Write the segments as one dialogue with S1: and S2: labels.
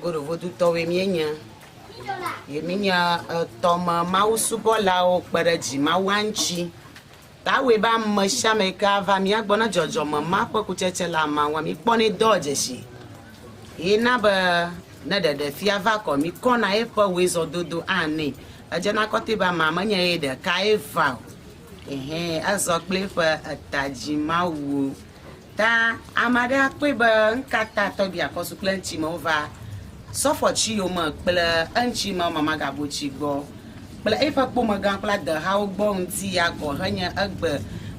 S1: Godovodutɔwoe míenye ye míenye etɔme mawusubɔlawo kpe ɖe dzimawua ŋuti. Ta awɔe be ame sia ame yi ke ava mía gbɔ ne dzɔdzɔme ma ƒe kutsetse le ama ŋua, míkpɔnɛ dɔ dzesi. Ye na be ne ɖeɖefia va kɔ mí kɔna eƒe wezɔdodo anɛ. Edzena kɔtɛ be amea menye ye ɖekae va o. Ehɛ̃, ezɔ kple eƒe etadzimawu. Ta ame aɖe akpɔe be nukata tɔgbi akɔsu kple eŋuti me wova sɔfɔtsi yome kple eŋuti me mamagabotsi gbɔ kple eƒe kpomegã kple adehawo gbɔ ŋuti ya gɔ henye egbe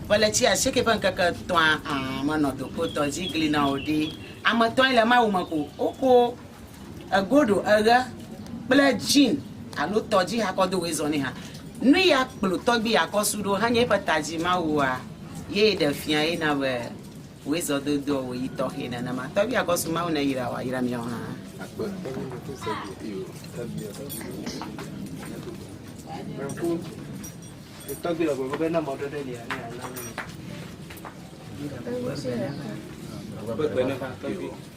S1: ƒe letsi asieke ƒe ŋkeke etɔ̃a a menɔ dokpotɔ dzi gli na o ɖe? Ame etɔ̃ae le Mawu me ko. Woko. Egoɖo eɣe kple jean alo tɔdzi hakɔ do woe zɔnɛ ha. Nuya kplo tɔgbi akɔ su ɖo hanye eƒe tadzi mawua ye ɖe fia ye na be woe zɔ dodoa wo yi tɔxe nenema. Tɔgbi akɔ su mawu ne yra wa ira miawo ha. Tɔgbi lɔ gbɔgbe be na mɔ ɖe ɖe lia ne ana mi.
S2: Tɔgbi lɔ gbɔgbe be na mɔ ɖe ɖe lia ne ana mi.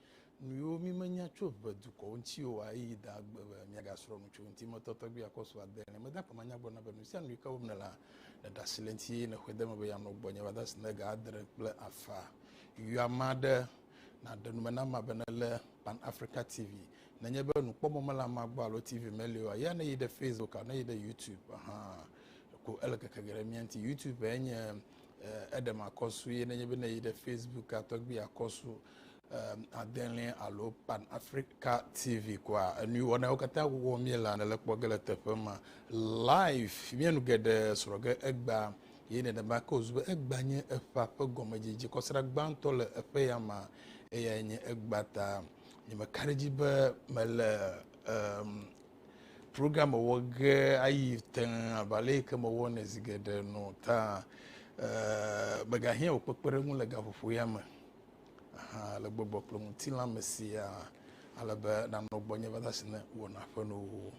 S3: nuyiwo mi menya tso ʋe dukɔwo ŋuti o a eyi da gbe be miagasrɔ nu tso eŋuti mɔtɔ tɔgbi akɔ su ade ene. Meda akpe manya gblɔ na be nusianu yi ke wɔm nele hã, ne ɖe asi le eŋuti eye ne xɔe de eme be yanɔ gbɔnye va dasi ne ga adre kple afa yɔ amea ɖe na ɖe nume na amea be ne le Pan Africa TV. Nenye be nukpɔmɔ mele amea gbɔ alo TV meli oa, ya ne yi ɖe Facebook alo ne yi ɖe YouTube hã ko ele keke ge ɖe mia ŋuti. YouTube enye Eh, eɖem akɔsu ye nenye be ne yi ɖe Facebook atɔgbi akɔsu eh, adelɛ alo Pan Africa TV koa enu wɔnawo katã wɔwɔ mie la nele kpɔ ge le teƒe ma live mie nu geɖe srɔ ge egba ye nenema ke wòzu be egba nye eƒea ƒe gɔmedzedze kɔsra gbãtɔ le eƒe ya ma eyae nye egba ta nyemeka ɖe edzi be mele um, Program wɔwɔ ge ayi tẽ abe ale yi ke mewɔnɛ zi geɖe nɔ ta eh, megahiã wò kpekpeɖeŋu le gaƒoƒo ya me aha le gbɔgbɔ kple ŋutilã me siaa ale be nanɔ gbɔnye va se ne wɔna ƒe nuwo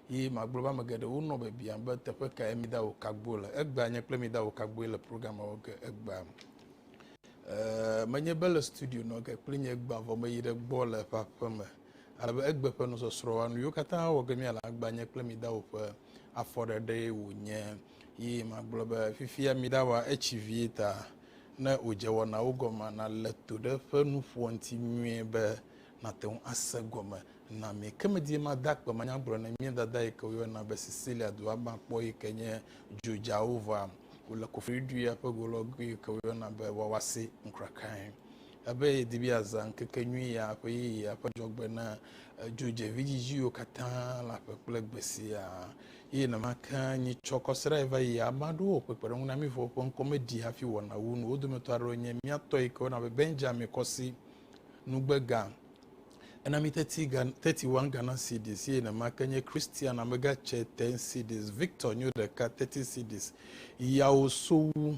S3: ye magblɔ be ame geɖewo nɔ biabiam be teƒe kae mida wò kagbo le egbea nye kple mida wò kagboe le program wɔ ge egbea eh, menye be le studio nɔ ge kple nye gbea vɔ meyi ɖe gbɔ le eƒe aƒeme Ale be egbe ƒe nusɔsrɔ̃a, nu yiwo katã wɔ ge míale agba nye kple mi dao ƒe afɔɖeɖee wònye. Yi magblɔ be, Fifia miɖawa etsi vie ta, ne wòdze wɔnawo gɔmea, nàle to ɖe eƒe nuƒoa ŋuti nyuie be nàte ŋu ase egɔme na mi. Ke medie made akpe manya gblɔ ne mía dada yi ke woyɔna be Sicilia dua gbã kpɔ yi ke nye Djoujaova. Wole kofliɖuɖu ya ƒe golɔgui yi ke woyɔna be Wawase ŋkrakae. Ebe yedi be yeazã ŋkekenyui ya ƒe yeyea ƒe dzɔgbe na dzodzevidzidziwo katã le aƒe kple gbe siaa. Eye nenema ke nyitsɔ kɔsiɖae va yi ame aɖewo ƒe kpeɖeŋunamiwo ƒe ŋkɔ me ɖi hafi wɔ nawu nu. Wo dometɔ aɖewo nye mía tɔ yike woyɔna be Benjamin Kɔsi, nugbega, ena mi thirty Ghana, thirty one Ghana cedis, eye nenema ke nye Christian amega tsɛ ten cedis, Victor nyo ɖeka thirty cedis, yawo sowu.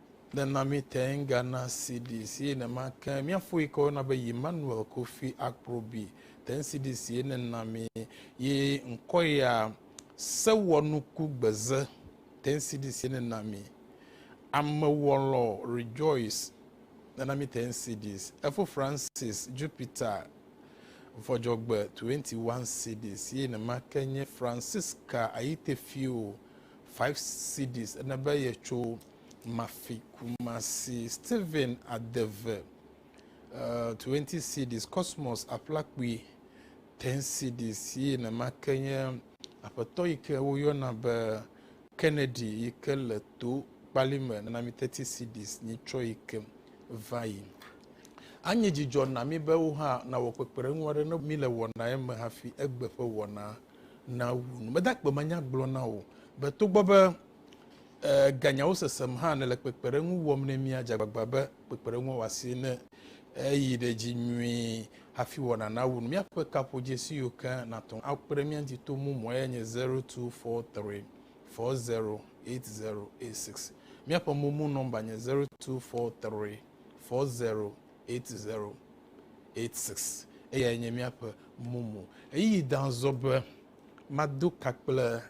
S3: Nena míte ŋu gana CD sie nema ke mía foyi ke wona be Emmanuel Kofi Akprobi te ŋu CD sie nena mi ye ŋkɔ ya Sewɔnuku Gbeze te ŋu CD sie nena mi Amewɔlɔ Rejoice nena mi te ŋu CDs Efo Francis Jupiter Vɔdzɔgbe 21 CD sie nema ke nye Francisca Ayitefio 5 cedis ene be yetso Mafi Kumasi, Stephen Adeve uh, 20 cedis, Cosmos Aƒlakpui 10 cedis yi nenema ke nye aƒetɔ yi ke woyɔna be Kennedy yi ke le to kpali me nana mi 30 cedis nyi tsɔ yi ke va yi. Anye dzidzɔ na mi be wo hã nawɔ kpekpeɖeŋu aɖe ne mi le wɔnae me hafi egbe ƒe wɔna nawu nu. Mede akpe manya gblɔ na wò be togbɔ be ganyawo sesem hã nèle kpekpeɖeŋu wɔm ne mía, dze agbagba be kpekpeɖeŋua wɔ asi ne èyi ɖe dzi nyuie hafi wɔna nawu nu. Míaƒe kaƒodzesiwo ke nàte ŋu akpe ɖe mía ŋuti to mumua yae nye 0243408086. Míaƒe momo nɔmba nye 0243408086. 86. Eyae nye míaƒe mumu. Ɣeyiɣi dã zɔ be mado ka kple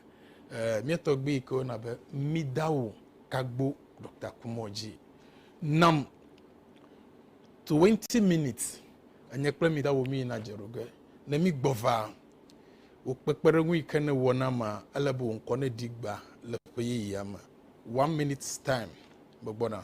S3: eh, mía tɔgbui yi ke wona be Midao Kagbo Doctor Kumɔ dzi. Nam 20 minutes enye kple Midao mí yina dze ɖo ge. Ne mí gbɔ va, wò kpekpeɖeŋu yi ke ne wɔ na ma, ele be wò ŋkɔ ne ɖi gba le ƒe yeyea me. One minutes time, megbɔna.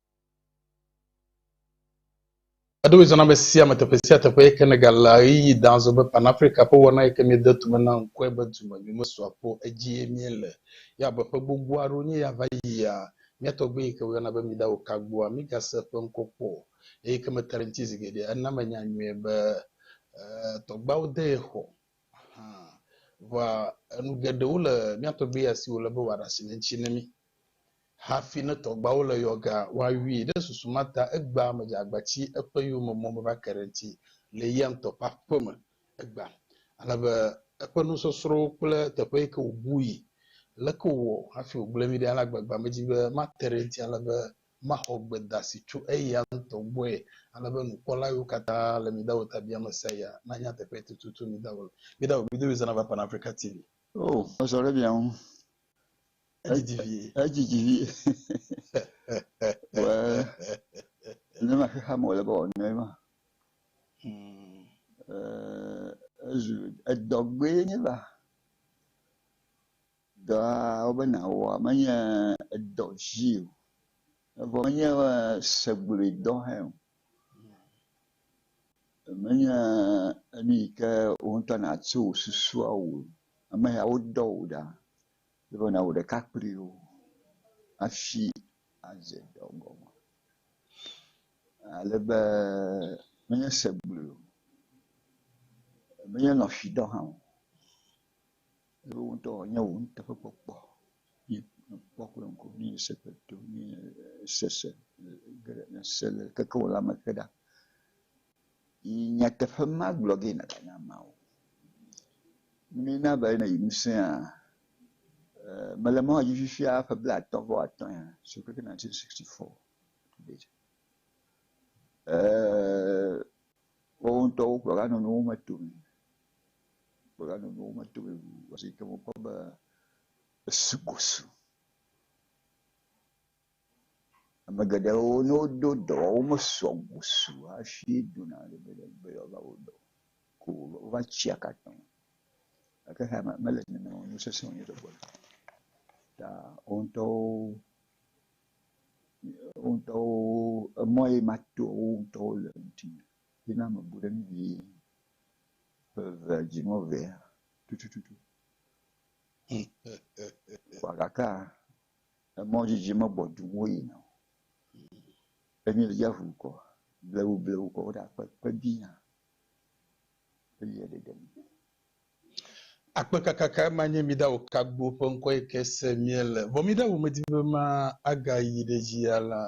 S3: Eɖo wòe zɔna ame sia ame teƒe sia teƒe eye ke negale ɣeyiɣi dã azɔ be Pan Afrika ƒe wɔna yi ke míede tume na ŋkɔe be dume mi mesua kpɔ o edzie míele. Ye abe ƒe gbogbo aɖewo wonye ya va yia, mía tɔgbui yi ke woyɔna be Mida Okagboa, mígase eƒe ŋkɔ kpɔ o eye ke mete ɖe eŋuti zi geɖe. Ena menya nyuie be tɔgbuiawo de ye xɔ hã. Vɔa, enu geɖewo le mía tɔgbui ya si wòle be wòaɖe asi le eŋuti na mí. Hafi ne tɔgbuawo le yɔ ga woawui ɖe susu ma ta, egbea medze agbati eƒe yome mɔ meva ke ɖe ŋti le eya ŋutɔ ƒe aƒe me. Egbea ale be eƒe nusɔsrɔ̃wo kple teƒe yike wòbui leke wòwɔ hafi wògblẽ vi ɖe alea gbagba medi be mate ɖe ŋti ale be maxɔ gbedasi tso eya ŋutɔ gbɔe ale be nukpɔla yiwo katã le Midaho ta bia me sia ya nanya teƒee tututu. Midaho, Midaho, Midaho is an African TV. Oh, mezɔ ɖe
S4: mia ŋu.
S3: Edzidzi vie. Edzidzi vie.
S4: Wee, ne ma xexea me wòle be wòanɔe ma. Hmm. Ee, ezu edɔgbe nye ba. Dɔa wobe nàwɔa menye edɔ dzi o. Evɔ menye segblui dɔ hã o. Menye enu yi ke wò ŋutɔ nàtso wò susua wò ame ya wodɔ wò ɖa. Ele be nàwɔ ɖeka kpli wo hafi adze dɔ gɔme. Ale be menye se gblɔe o, menye lɔ̃xidɔ hã o, eye wò ŋutɔ wònye wò nuteƒekpɔkpɔ ye nèkpɔ kple ŋku ye nèse kple to ye nèse se ge ɖe nèse le keke wò lãme ke ɖa. Yi nyateƒe ma gblɔ ge nàgana ameawo. Mína be ne yi nu sẽa, eh, mele mɔ dzi fifia ƒe blaatɔ̃ vɔ atɔ̃ ya, so keke 1964 to date. Eh, wowo ŋutɔwo kplɔga nɔ nuwo me tome. Kplɔga nɔ nuwo me tome wu wasi ke wokpɔ be esu gosu. Ame geɖewo ne wodo dɔ wɔm wo mesɔ gbɔ su hafi dona ɖe be be yewoava wɔ dɔ o. Ko wova tsi akata o. Gake haya me mele nene o nu sese wonye ɖe gbɔna. Ta wo ŋutɔwo wo ŋutɔwo emɔ ye ma to wo ŋutɔwo le ŋuti me. Ye na mebu ɖe nu vie ƒe eve dzi mɔ vea tutututu. Vɔ gakea Emɔ dzidzi megbɔ dum woyina o. Ne míele dziaƒo nu kɔ, blewublewu kɔ woɖe akpe akpe biã elia ɖeɖe me. Akpe
S3: kaka kae ma nye Midawokagboo ƒe ŋkɔ yi ke se míele? Vɔ Midawo medi be ma agayi ɖe dzi alã.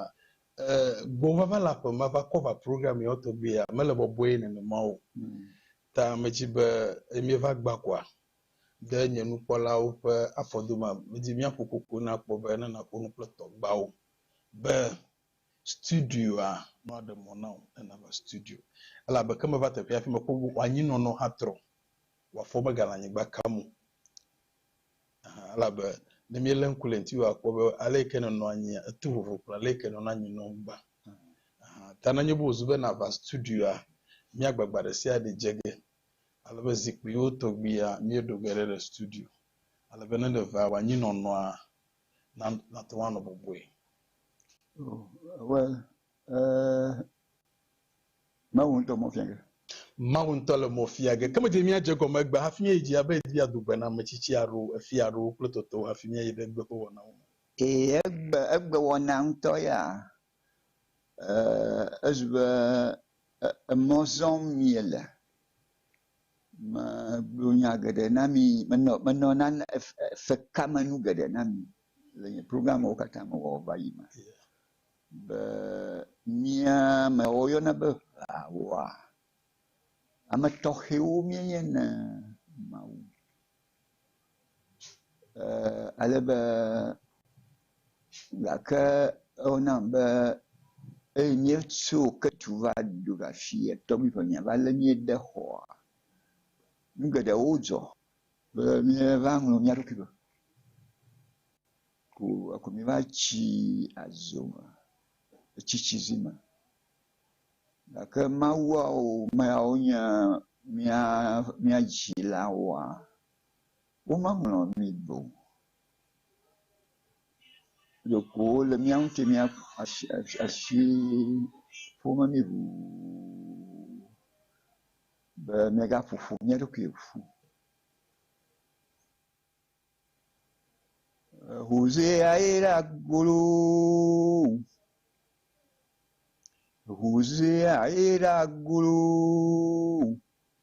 S3: E, gbɔvava le aƒe ma va cover program yawo tɔgbi ya mele bɔbɔe nenema o. Ta medzi be mieva gbã kɔa? de nye nukpɔlawo ƒe afɔdome. Medi míaƒo koko na kpɔ be ne nàƒo nu kple tɔgbawo be studioa nɔ aɖe mɔ na wò ne nàva studio. Elabe ke meva teƒea hafi mekpɔ be wò anyinɔnɔ hã trɔ, wò afɔ megale anyigba kam o. Aha, elabe ne míelé ŋku le ŋutiwò akpɔ be ale yi ke nènɔ anyia, eto vovo kple ale yi ke nènɔna anyi nɔm gbã. Aha, ta nenye be wòzu be nàva studioa, míagbagba ɖe sia ɖe dze ge ale be zikpuiwo tɔgbuia, míeɖo ge ɖe ɖe studio ale be ne ɖevea wɔ anyinɔnɔa na nate ŋu anɔ bɔbɔe. Oh,
S4: well, eh, Mawu ŋutɔ mɔ fia ge.
S3: Mawu ŋutɔ le mɔ fia ge. Ke medze míadze egɔme egbea hafi míayi dzi abe yedi ado gbe na ame tsitsi alo efia alo wo kple tɔtɔwo hafi míayi ɖe egbe ƒe wɔnawo me. Ee, egbe,
S4: egbewɔna ŋutɔ ya Esi be emɔ zɔm miele, megblɔ nya geɖe na mi, menɔ nane fe ka me nu geɖe na mi le nye programwo katã me wɔ va yi me be mía me woyɔna be ʋeawoa, ame tɔxɛwo míenye na Mawu. Eeee ale be gake ewo nam be eye míetso ketu va ɖo va fi tɔgbi ƒe mía va le mía de xɔa nu geɖewo dzɔ be mía va ŋlɔ mía ɖokui be ko eko mí va tsi adzo me etsi tsi zi me gake Mawuawo meawo nye mía mía dzilawoa. Womeŋlɔ mi o. Ɖeko wole mía ŋuti mía asi asi ƒom na mí ŋuu be míegaƒo ƒu mía ɖokui ƒu. Hoseae ye ɖa goloo. Hosea ye ɖa goloo.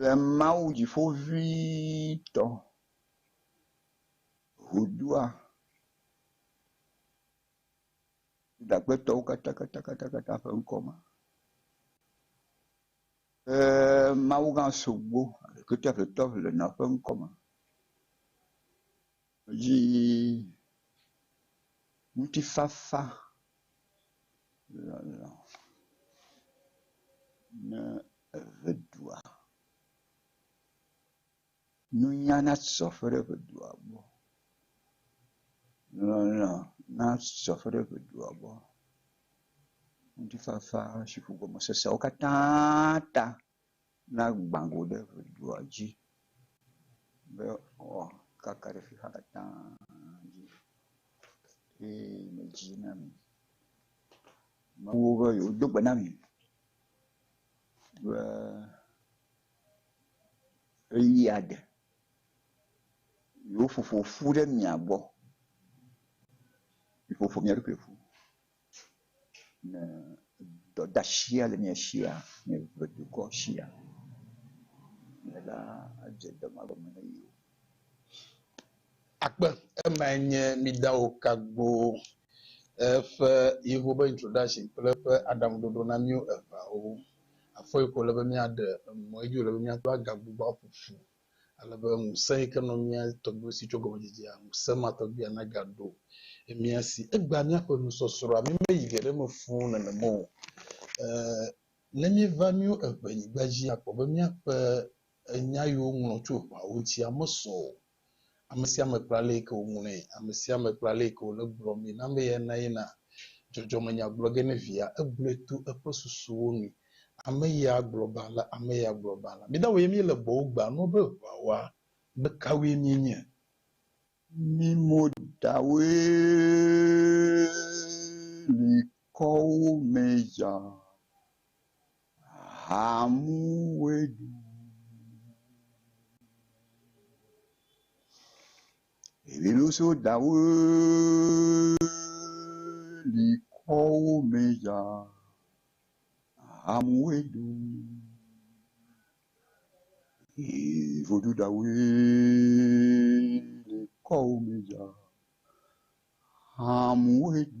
S4: Le Mawu dziƒoʋĩtɔ ŋudua, Yuda ƒe tɔwo katãkatã ƒe ŋkɔ me, ke Mawugã Sogbo, Aɖokuitɔeƒetɔ le nɔ ƒe ŋkɔ me. Yi ŋutifafa lɔlɔ̃ ne eʋe ɖua. Nunya nasɔ ƒe ɖe eʋe ɖua gbɔ. Lɔlɔ̃ nasɔ ƒe ɖe eŋe ɖua gbɔ. Ŋutifafa si ƒo gɔme seseawo katã ta. Na gbã go ɖe ʋe dua dzi be woakaka ɖe xexea katã dzi eye medzi na mi. Mewɔ be yewodo gbe na mi be ɣeyiɣia de. Yewoƒo ƒo ƒu ɖe mia gbɔ. Miƒo ƒo mia ɖokui ƒu. Ne dɔdashia le mia shia, ne eve dukɔ shia, ne la adze dɔmagɔme ne mi o.
S3: Akpe, emae nye Midawo Kagbo ƒe yewo be introduction kple eƒe aɖaŋuɖoɖo na míwo eveawo. Afɔyi ko wòle be míaɖe emɔ ye dzi wòle be míaɖo agagbugbɔ aƒo ƒu. ale be ŋusẽ yi ke nɔ mía tɔgbuiwo si tso gɔmedzidzea, ŋusẽ ma tɔgbuia nagaɖo mía si. Egbea míaƒe nusɔsrɔ̃a mí meyi geɖe me fũu nenema o. E, ne míeva míwo eŋɛnyigba dzi akpɔ be míaƒe nya yi woŋlɔ tso ʋɔawo ŋutia mesɔ o, Ame sia ame kpla leyike woŋlɔe, ame sia ame kpla leyike wole gblɔ mee na amee na yina dzɔdzɔmenya gblɔ ge ne via, egblɔe to eƒe susuwo nu. Ame ye agblɔ ba la, ame ye agblɔ ba la. Mídawo ye míele gbɔwò gbea nua be ʋua woa, ame kawoe míenye?
S4: Mí mo ɖawoe li kɔwo me ya. Haamu woe ɖu Eviɖoso dawo li kɔwo me dza. Haamu woe ɖu Evodu dawo li kɔwo me dza. Haamu woe ɖu.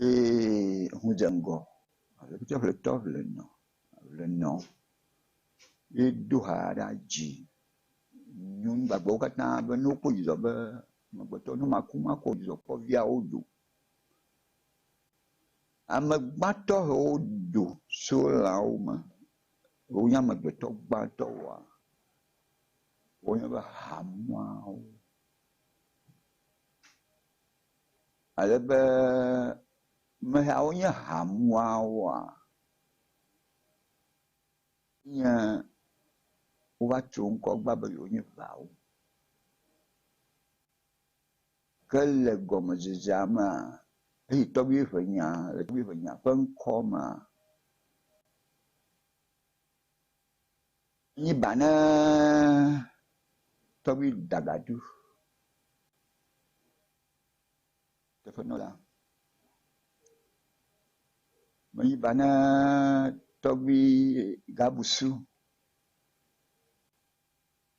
S4: Yee ho dze ŋgɔ. Ŋutsɔƒletɔ le nɔ, le nɔ ye do ha ɖa dzi. Nyɔnu gbagbewo katã be ne wokpɔ dzidzɔ be amegbetɔ ne maku makɔ dzidzɔ kpɔ viawo do. Ame gbãtɔ hewo do so lãwo me. Wonye amegbetɔ gbãtɔ woa. Wonye be hamuawo. Alebe amehawo nye ha muawoa? Nye wova tso ŋkɔ gbã be yewo nye ŋawo. Ke le gɔmedzedzea mea, eye tɔgbi ƒe nya, le tɔgbi ƒe nya ƒe ŋkɔ mea, Nyi ba ne tɔgbi dagadu teƒe nɔ la. Menyi ba ne tɔgbi gabusu.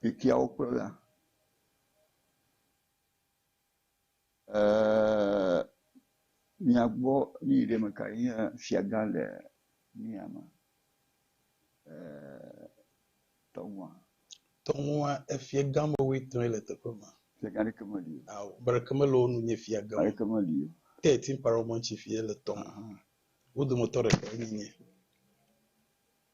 S4: Xexeawo kplɔla, Ee, mìagbɔ nu yi ɖe mekae nye fiagã le mía me. Ee,
S3: tɔŋua. Tɔŋua, efiagã woame etɔ̃e le teƒe ma. Fiagã ɖeke meli
S4: o. Ao, ame ɖeke mele wo
S3: nu nye fiagã o. Ame ɖeke meli o. Ke
S4: Timparɔmɔn
S3: tsi ƒie le tɔŋu. Wo dometɔ ɖekae nye nye.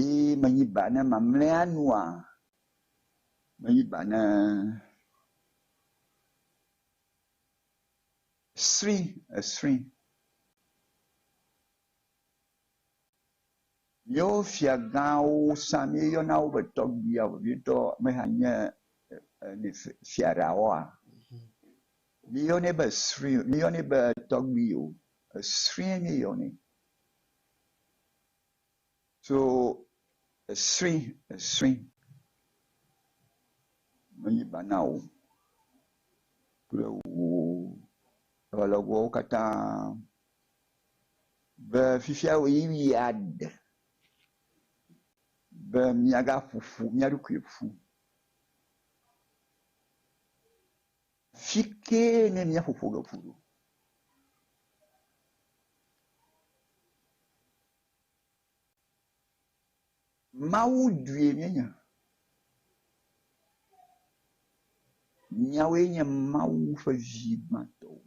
S4: Eye menyi ba ne mamlɛa nua? Menyi ba ne sri esri yewo fiagãwo sa míeyɔna wo be tɔgbia vevietɔ meha nye e fiaɖawoa? Míeyɔnɛ be sri míeyɔnɛ be tɔgbio esri míeyɔnɛ. tso esri esri menyi ba na wò kple wò alɔgbɔwo katã be fifia ɣeyiɣi ya ɖe be míagaƒo ƒu mía ɖokui ƒu. Fi kee nye mía ƒoƒo le ƒu ɖo. Mawu due míenya. Míawoe nye Mawu ƒe vi gbãtɔwo.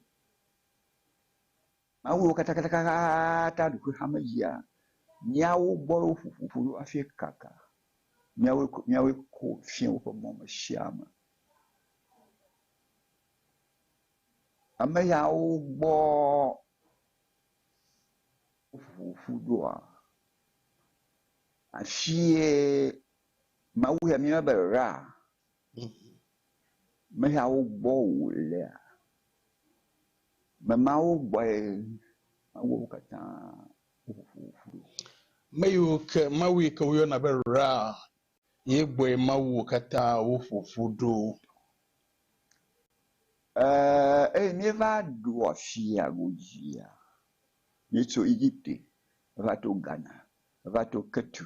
S4: Mawu wo katã katã katã ɖokuiwo xame yia míawo gbɔ wo ƒuƒu ƒu ɖo hafi kaka. Míawoe ko míawoe ko fiã woƒe mɔ me sia me. Ame yawo gbɔ woƒuƒu ƒu ɖoa afie Mawu ya míeyɔna be Ra. Me yawo gbɔ wòlea? Me mawo gbɔe Mawu wo katã ƒo ƒu ɖo. Me
S3: yiwo ke, Mawu yi ke woyɔna be Ra, ye gbɔe Mawu wo katã wo ƒo ƒu ɖo. Ɛɛ,
S4: eye míeva ɖu afia godzia. Míetso Egipte va to Ghana, va to Ketu,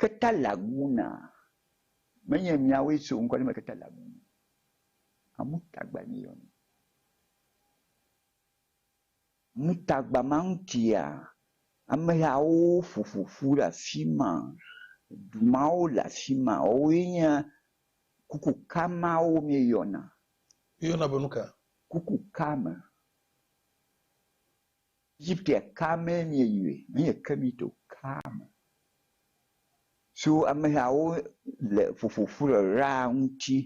S4: Ketalaguna, menye miawoe so ŋkɔ me Ketalaguna, Amutagba míeyɔnɛ. Mutagba ma ŋutia, amehawo ƒoƒo ƒu ɖe afi ma, du mawo le afi ma, woawoe nye kukuka mawo míeyɔna. Woyɔna be
S3: nu ka? Kukuka
S4: me. Egiptea ka mee mieyɔe? Menye Kemit o, kaa me. So amehawo le ƒoƒoƒu le Raa ŋuti.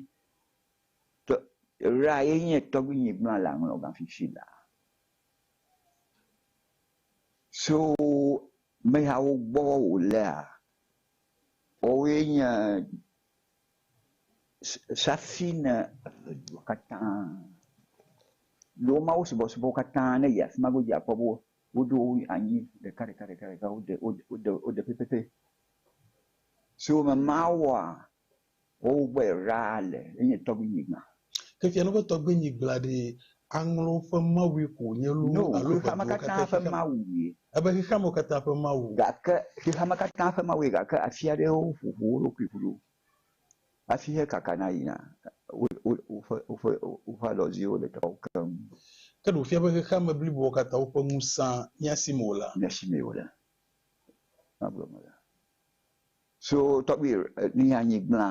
S4: Tɔ, Raa ye nye tɔgbuinyigblã le aŋlɔgã fifi la. So amehawo gbɔ wòlea, woawoe nye Hafi ne edua katã ne wo Mawu subɔsubɔ katã ne yi afi ma godzi akpɔ be woɖo wo anyi ɖekaɖekaɖeka wode wode wode pɛpɛpɛ. Si wome Mawua wowo gbɔe ɖaa le enye tɔgbuinyigba. Ke fia no be
S3: tɔgbenyi gblɔa ɖi aŋlɔ ƒe mawui ko wònye loo alo ʋeduwo katã
S4: ƒe
S3: xexeame.
S4: Ebe xexeame katã
S3: ƒe mawui. Gake xexeame
S4: katã ƒe mawui gake afi aɖewo ƒoƒu wo ɖokui ƒu ɖo hafi hekakana yina woƒe woƒe alɔdziwo le teƒeawo keŋ. Ke ɖe wòfia be
S3: xexeame bliboa katã woƒe ŋusẽ mía si me olea? Mía si me ole.
S4: Nyawo gblɔm mele. So tɔgbi nyi anyi gblẽa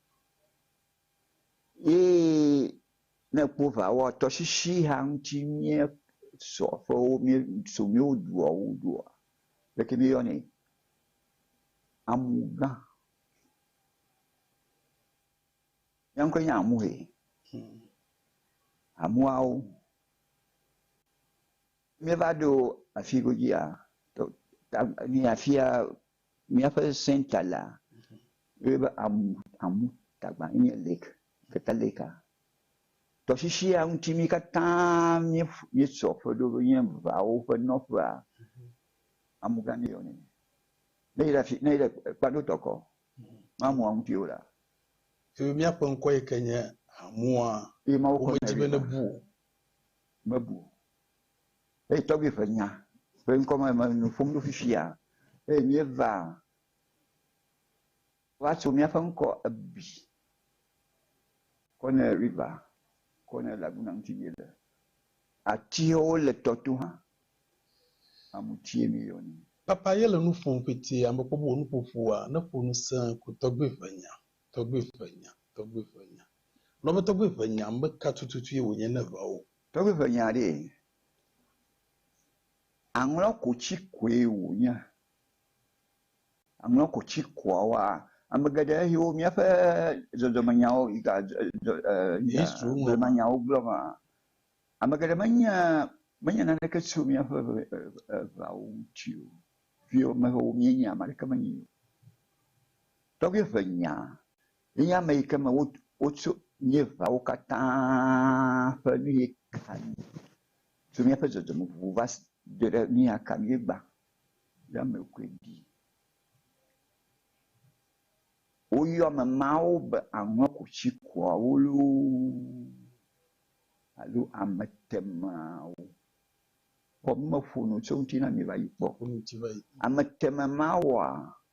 S4: Ye ne ekpɔ ŋa woa tɔsisi ha ŋuti mía sɔ ƒe wo mía so mía wo dua wo doa leke mía yɔnɛ? Amugã. Mía ŋkɔe nye amu he. Amuawo. Mía va ɖo afi godzia tɔ ta ni afia. Míaƒe center la woyɔe be amu amu tagba enye lake Geta lake a. Tɔsisia ŋuti mí katã mí míesɔ ƒe ɖo be nye vawo ƒe nɔƒea amu gã míeyɔ nɛ. Ne yi ɖe afi ne yi ɖe Kpado tɔkɔ me amua ŋuti o la. Eye
S3: míaƒe ŋkɔ yi ke nye amua womedi
S4: be nebu o.
S3: Mebu
S4: o. eye tɔgbui ƒe nya ƒe ŋkɔ me mele nu ƒom ɖo fifia o eye míeva va tso míaƒe ŋkɔ ebi kɔ ne river kɔ ne laguna ŋuti míele. Atiwo le tɔ to hã. Amutie míeyɔnɛ. Papa ye le nu
S3: ƒom fiti ame kpɔ be wò nuƒoƒoa neƒo nu sẽ ko tɔgbui ƒe nya, tɔgbui ƒe nya, tɔgbui ƒe nya. Nɔ be tɔgbui ƒe nya meka tututue wònye ne ʋa wò Tɔgbi ƒe nya aɖee.
S4: Aŋlɔ ko tsi koe wònya. Aŋlɔ ko tsi koa woa, ame geɖe siwo míaƒe dzɔdzɔme nyawo yi ga dzɔ dzɔ e e blema nyawo gblɔ ma, ame geɖe menya menya naneke tso míaƒe ʋe e e ʋeawo ŋuti o. Viwo me ʋewo míenya ame aɖeke menyae o. Tɔgbi ƒe nya Enye ame yi ke me wo, wotso míeʋawo katã ƒe nu yi ka nu, tso míaƒe dzɔdzɔme vovovowo va se ɖe ɖe nu ya ka míegbã be ame koe ɖi. Woyɔ ame mawo be aŋɔkutsikuawo loo alo ametemawo. Kpɔ be meƒo nu tso eŋuti na mi va yi kpɔ. Ameteme mawoa,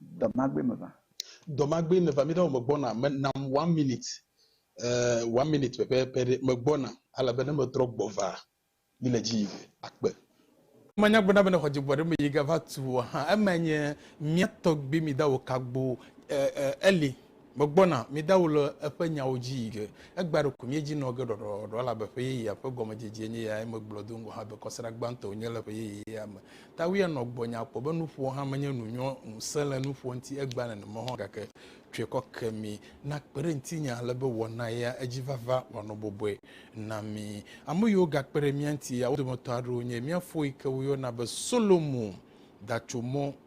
S4: Dɔmagbe meva. Dɔmagbe meva.
S3: Míɖe wò megbɔna. Me nam one minute. Eh, one minute pɛpɛpɛ ɖe. Megbɔna. Alabe ne metrɔ gbɔ va, mi le dzi yim akpe. Manya gbɔna be ne xɔ dzegbɔ ɖe me yi ga va tu o hã, eme nye mía tɔgbui mi da wò kagbo, eh, eh, Eli. Megbɔna, midawu le eƒe nyawo dzi yi ge. Egbea ɖeko míedzi nɔ ge ɖɔɖɔɖɔɖɔ, elabe ƒe yeyea ƒe gɔmedzedzie nye eyae megblɔ do ŋgɔ hã be kɔsiɖa gbãtɔe nye le ƒe yeyea me. Tawia nɔ gbɔnye akpɔ be nuƒoa hã menye nu nyɔ, ŋusẽ le nuƒoa ŋuti egbea nenema hɔ̃ gake tsɔe kɔ ke mi. Nakpe ɖe ŋutinye ale be wɔna ya edzi vava wòanɔ bɔbɔe na mi. Ame yiwo gakpe ɖe mía ŋuti ya, wo dometɔ aɖewo nye mía fo yi ke woyɔna be Solomo da tso mɔ.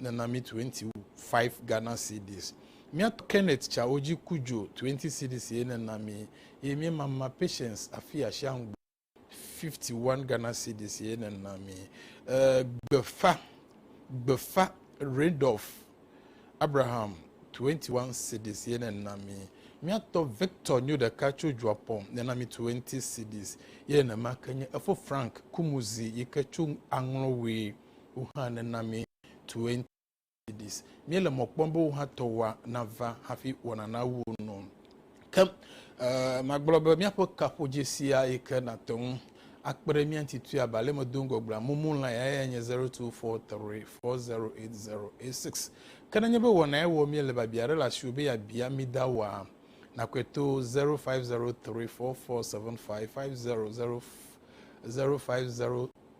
S3: nana mi 25 Ghana cedis. Mía tɔ Kenneth tsawo dzi ku dzo 20 cedis ye nana mi ye mía mama Patience afi Ashiangbo 51 Ghana cedis ye nana mi. E, gbefa, gbefa Randolph Abraham 21 cedis ye nana mi. Mía tɔ Victor nyo ɖeka tso Dzuapɔ nana mi 20 cedis ye nenema ke nye efo Frank Kumuzi yi ke tso Aŋlɔwee. Wo hã nena mi twenty cedis. Míele mɔ kpɔm be wò hã tɔwòa nava hafi wɔna nawu nɔ. Ke magblɔ be míaƒe kaƒodzesia yi ke nàte ŋu akpe ɖe mía ŋuti tui abe ale medo ŋgɔ gblɔa, Mumu line ya yae nye zero two four three four zero eight zero eight six. Ke nenye be wɔnae wɔm míele biabia aɖe le asiwò be yeabia mí da woa, nakɔe to zero five zero three four four seven five five zero zero zero five zero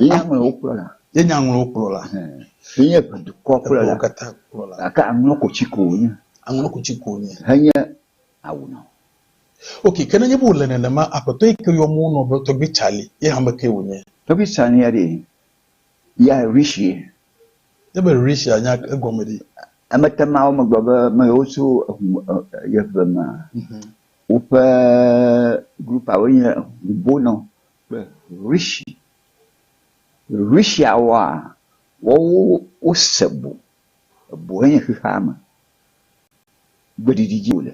S4: Yenye amewo kplɔla. Yenye amewo kplɔla.
S3: Yenye
S4: dukɔ kplɔla. Katã kplɔla. Gake
S3: aŋlɔ kotsi
S4: ko wònye. Aŋlɔ kotsi ko wònye. Henye awu nɔ. Ok,
S3: ke nenye be wòle nenema, aƒetɔ yi ke yɔm wonɔ be tɔgbui Tsali, ye hã ame kae wònye? Tɔgbui Tsali ya ɖee,
S4: ya Rishi ye. Ne be
S3: Rishi ya nya egɔme ɖi. Emete mawɔ
S4: megblɔ be ame yewo tso eŋu, yeʋe mea? Woƒe grupawoe nye Hubonɔ kple Rishi. Rishiawoa, woawo wose bo. Eboe nye xexeame. Gbeɖiɖi dzi wòle.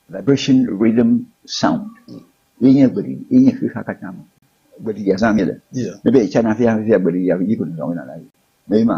S4: Vibration Rhythm Sound ye nye gbeɖiɖi, ye nye xexea katã me. Gbeɖiɖia zãm míele. Míebe ye tsana fifia fifia gbeɖiɖia ƒe dziƒo nɔnɔme nana ye. Mee ma?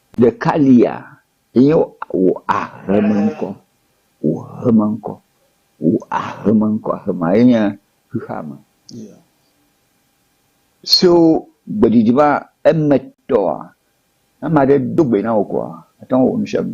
S4: Ɖeka lia enye wò ahemeŋkɔ, wò ahemeŋkɔ, wò ahemeŋkɔ. Ahema ye nye xexeame. So gbeɖiɖi va emetɔa, ne ame aɖe do gbe na wò koa, àte ŋu awɔ nu sia nu.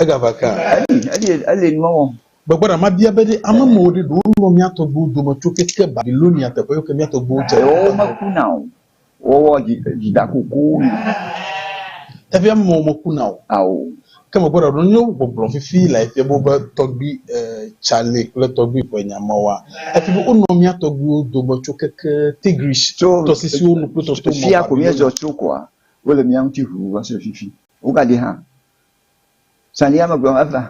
S4: Egava kaa.
S3: Eli, eli nu
S4: wɔm. Gbegbe ɖa mabia be
S3: ɖe ame mɔ ɖe ɖewo lɔ̃ mía tɔgbuiwo dome tso keke Babilonia teƒe yɔ ke mía tɔgbuiwo dze. Ɖewo mekuna o.
S4: Wowɔ dzidakuku na.
S3: Efia be mɔ mekuna o. Ao. Ke
S4: megbe ɖa ɖo nye
S3: gbɔgblɔ fifi lae fia be wobe tɔgbui Charlie kple tɔgbui Ƒenya mɔwoa? Efia be wonɔ mía tɔgbuiwo dome tso keke Tigris tɔsisiwo nu kple tɔto mɔ Babilonia. Fifia ko míezɔ tso
S4: koa, wole mía ŋuti ʋuu va se ɖe fifi. Wogadi hã. Sania megblɔ eva.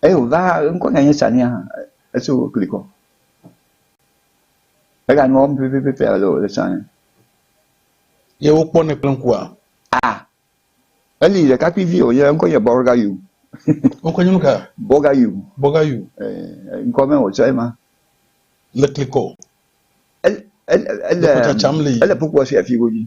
S4: Eye wòva hã, ŋkɔ nea nye Sania hã. Esi wokli kɔ. Egale nua wɔm pɛpɛpɛpɛ ale wòle tsã ene.
S3: Ye wokpɔnɛ kple ŋkua? A.
S4: Eli ɖekakpuivi wònye, eŋkɔ nye Bɔrgayu. Ŋkɔ nye nuka?
S3: Bɔrgayu.
S4: Bɔrgayu. Ee, ŋkɔ me wòtsɔ ema. Le
S3: kli kɔ. Ele,
S4: ele, ele, ele kpokpoa si afi godzi.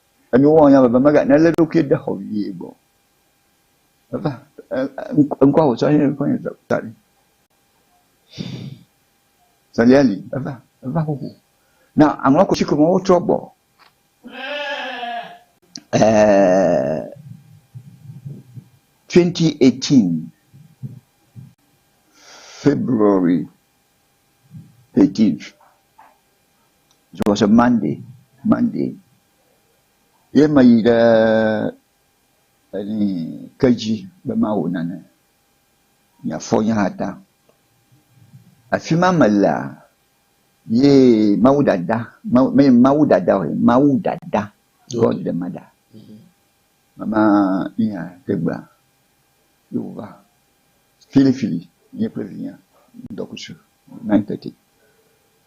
S4: Enuwo wɔwɔ nya bebe mega nelé ɖokui ɖe xɔ vie gbɔ. Eva ŋkɔ wòtsɔ nye ŋkɔ nye ta ɖi. Sɛlia li eva eva xoxo. Na aŋlɔ kotsi ko me wotrɔ gbɔ. Ɛɛ 2018 February 13th. Dzɔgɔsɔ Monday, Monday ye meyi ɖe eni kedzi be mawɔ nane miafɔ nye hã ta. Afi ma melea ye Mawu dada, Mawu menye Mawu dada o, Mawu dada, God the mother. Mama yi hã tegbea ye wòva filifili nye kple vinya ŋdɔkutsu nine thirty.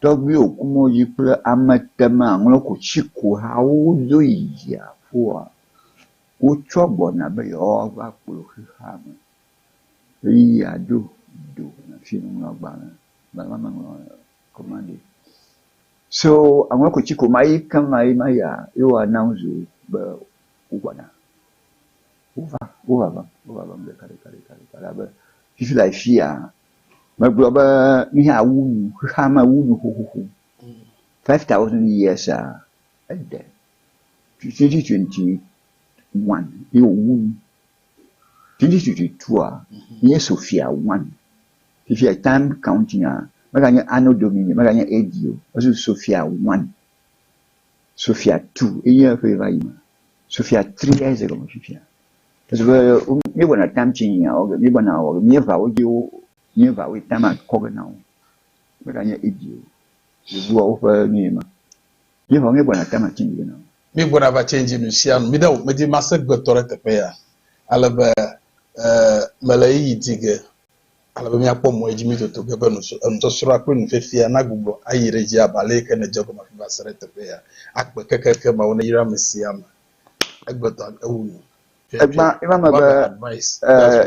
S4: Tɔgbuiwo ku mɔ dzi kple amete me aŋlɔ ko tsi ko hawo wodo yi dziaƒoa, wotsɔ gbɔna be yewoava kplɔ xexea me ɣeyiɣia ɖo do na fi woŋlɔ agbalẽ be ame meŋlɔ ko ma ɖi. So aŋlɔ ko tsi ko ma yi keŋ ma yi ma yia ye wo announce be wogbɔna. Wova, wovavem, wovavem ɖekaɖekaɖekaɖeka ɖa be fifi le afia. Megblɔ be míawu nu, xexea me wu nu xoxoxo. Five thousand years a ede twenty twenty one ye wòwu nu. Twenty twenty two a nye Sofia one. Fifia time counting a meganye anno domini, meganye AD o. Ezu Sofia one. Sofia two enye eƒe va yi me. Sofia three ya ye ze gɔme fifia. Esi be míewɔna tam tsi yia wɔ ge, míegbɔna wɔ ge, míeva wo dzi wo, míeva woe tam akɔ ge na wo. Meganye Edi o, Yevuwo ƒe nu ye ma. Míeva wo, míegbɔna tam atsi ge na wo. Míegbɔna va tsi dzi
S3: nu sia nu. Mi ɖe o, medi mase gbetɔ ɖe teƒe ya, ale be e, mele ɣeyiɣi di ge, ale be míakpɔ mɔ edzi mí toto ge be nu, enusɔsrɔ̃a kple nufiafia nagbugbɔ ayi ɖe edzi abe ale yi ke nedze egɔme afi va se ɖe teƒe ya, akpe kekeake Mawu neyra ame sia ame Egbã eva
S4: me be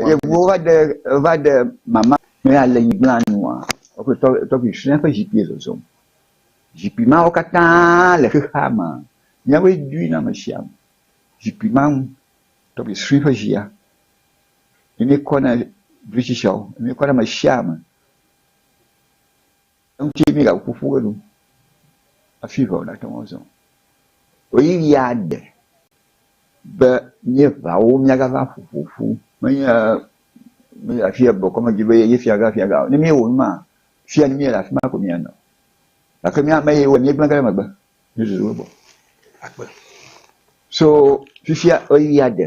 S3: yevuwo va
S4: ɖe va ɖe mama me ya le nyigblã nua woƒe tɔ tɔgbi fia ƒe zikpui zɔzɔm. Zikpui mawo katã le xexea me. Míawoe dui na ame sia ame. Zikpui ma nu tɔgbi sue ƒe zia ye mi kɔ na ɖe ame sia ame. Eŋuti ye míegaƒo ƒu ɖo enu hafi ŋa wònate ŋu azɔ. Ɣeyiɣi aɖe be míeŋawo míagava ƒo ƒo ƒu menye be afi ya bɔkɔ medzi be ye fia ga fia ga o. Ne míewɔ nu maa, fi ya míele afi ma ko míanɔ. Gake mía ame yiwo míegblẽ ge ɖe megbe míezuzu wo gbɔ akpe.
S3: So
S4: fifia ɣeyiɣia ɖe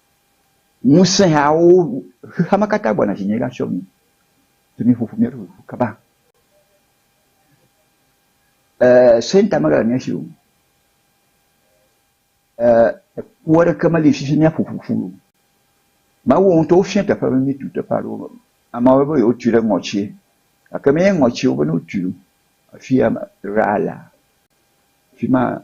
S4: Ŋusẽhawo, xexea me katã gbɔna dzinye va tsyɔ mí, si mí ƒoƒu mía ɖokuiwo kaba. Ee, Satan mele mía si o. Ee, ku aɖeke meli si dzi mía ƒoƒu ƒu o. Mawu ŋutɔ wofia teƒe be mí tu teƒe aɖewo me. Amewo be be yewo tui ɖe ŋɔtsie, gake menye ŋɔtsie wo be ne wotui ɖo. Afia me, Rala, afima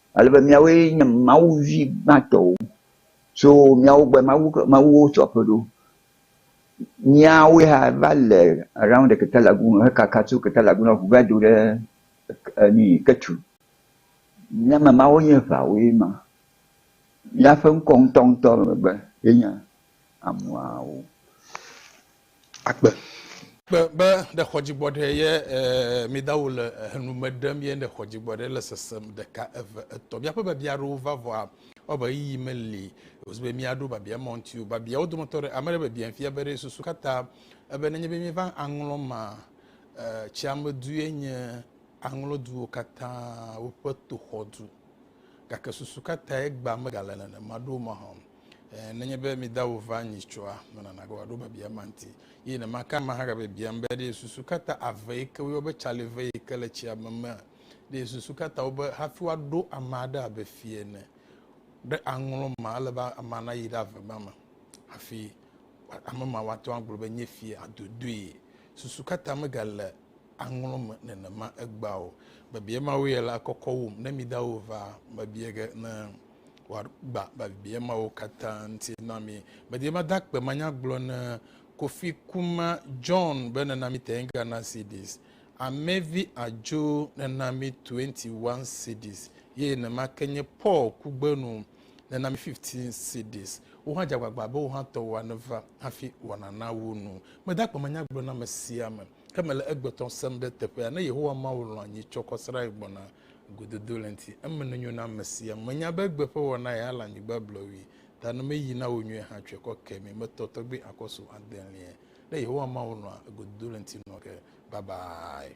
S4: ale be miawoe nye Mawu vi gbãtɔwo tso miawo gbɔe, Mawu ke, Mawuwo tsɔ ƒe ɖo. Míawoe hã va le around the ketelagu hekaka tso ketelagu na ŋu va do ɖe enu ketu. Mía me mawo nye ʋawoe ma. Míaƒe ŋkɔ ŋutɔŋutɔ megbe ye nye amuawo.
S3: akpe. Kpe be ɖe xɔ dzigbɔɖɛ ye midawo le henu me ɖem ye ɖe xɔ dzigbɔɖɛ le sesem ɖeka eve etɔ miaƒe babia aɖewo va vɔa ɔbe ɣeyiɣi meli wozi be miaɖo babia mɔ ŋuti o babia wo dometɔ ɖe ame ɖe babia fia be ɖe susu katã ebe nenye be miva aŋlɔ ma tsiame du ye nye aŋlɔ duwo katã woƒe toxɔ du gake susu katã egba megale nenema ɖo mahã Ɛɛ, nenye be mi dawò va anyi tsɔa, mena nàgbe wòaɖo biabia ma ŋuti. Eye ne maka ame hã gabiabiam be, Ɖe susu ka ta ave yi ke woyɔ be tsali ve yi ke le tsia me mea? Ɖe susu ka ta wobe hafi woaɖo ame aɖe abe fia ene ɖe aŋlɔ ma, ele be amea nayi ɖe ave ma me hafi ame ma woate ŋu agblɔ be nye fia adodoe? Susu ka ta megale aŋlɔ me nenema egbea o? Biabia mawoe la kɔkɔ wum ne mi dawò va mebia ge ne wòagba biabia mawo katã ŋuti na mi. Medi mada kpe manyagblɔ ne Kofi Kuma John be nena mi 10 Ghana cedis, Amevi Adjo nena mi 21 cedis, ye nema ke nye Paul Kugbenu nena mi 15 cedis. Wo hã dze agbagba be wo hã tɔwoa neva hafi wòanana wo nu. Meda kpe manyagblɔ na ame sia ame. Ke mele egbetɔ sem ɖe teƒea, ne Yehowa Mawu lɔ̃a nyitsɔ kɔsrae gbɔna gododo le ŋti, eme nenyo na amesia. Menya be egbe ƒe wɔna ya le anyigba blɔwui, ta ne meyi na wò nyuie hã tsɔe kɔ ke mi, metɔ tɔgbi akɔ su adelie. Ne Yehowa Mawu lɔ̃a gododo le ŋti nɔ ke. Babae.